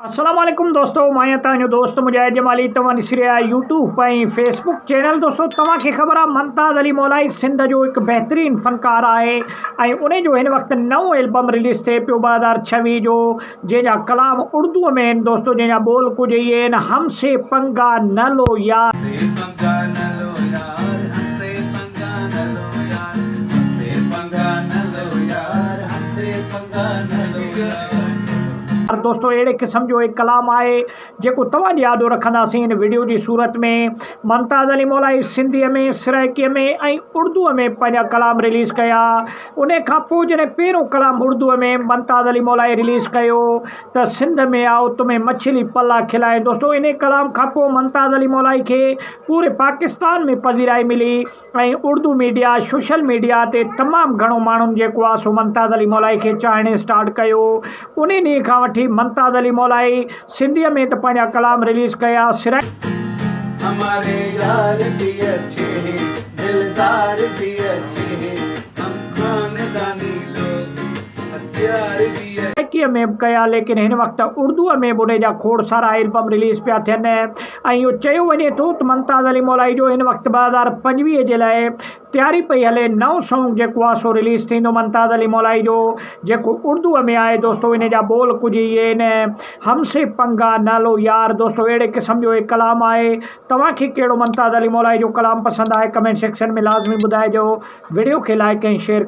السلام عليڪم دوستو مان آهيان توهان جو دوست مجاهد جمالي توهان ڏسي رهيا آهيو يوٽيوب ۽ فيس بڪ چينل دوستو توهان کي خبر آهي ممتاز علي مولائي سنڌ جو هڪ بهترين فنڪار آهي ۽ ان جو هن وقت نئون البم رليز ٿئي پيو ٻه هزار ڇويهه جو جنهن جا ڪلام اردو ۾ آهن دوستو جنهن جا ٻول ڪجهه اهي آهن هم سي پنگا نه لو يار پر دوستو اهڙي قسم جو هڪ ڪلام آهي جيڪو توهان جي آڏو رکنداسين هن وڊيو جي صورت ۾ ممتاز علي مولائي سنڌي ۾ سرائڪي ۾ ۽ اردو ۾ پنهنجا ڪلام رليز ڪيا ان کان پوء جڏهن پهريون ڪلام اردو ۾ ممتاز علي مولائي رليز ڪيو ته سنڌ ۾ آئو تمهين مڇلي پلا کلائين دوستو انهي ڪلام کان پوء ممتاز علي مولائي کي پوري پاڪستان ۾ پذيرائي ملي ۽ اردو ميڊيا سوشل ميڊيا تي تمام گهڻو ماڻهن جيڪو آ سو ممتاز علي مولائي کي چاهڻ اسٽارٽ ڪيو انهي ڏينهن کان وٺي ممتاز علي مولائي سنڌي ۾ ته پنهنجا ڪلام رليز ڪيا سرائيڪ هماري يار بي اچھي هي دلدار بي اچھي هي هم خانداني لوگ هٿيار بي اچھي. سرائيڪي ۾ به ڪيا ليڪن هن وقت اردو ۾ به انهي جا کوڙ سارا البم رليز پيا ٿين. ۽ اهو چيو وڃي ٿو ته ممتاز علي مولائي جو هن وقت ٻه هزار پنجويهه جي لاء تياري پئي هلي نئون سونگ جيڪو آهي سو رليز ٿيندو ممتاز علي مولائي جو جيڪو اردوء ۾ آهي دوستو ان جا ٻول ڪجهه اهي آهن هم سي پنگا نه لو يار دوستو اهڙي قسم جو هي ڪلام آهي توهان کي ڪهڙو ممتاز علي مولائي جو ڪلام پسند آهي ڪمينٽ سيڪشن ۾ لازمي ٻڌائجو وڊيو کي لائڪ ۽ شيئر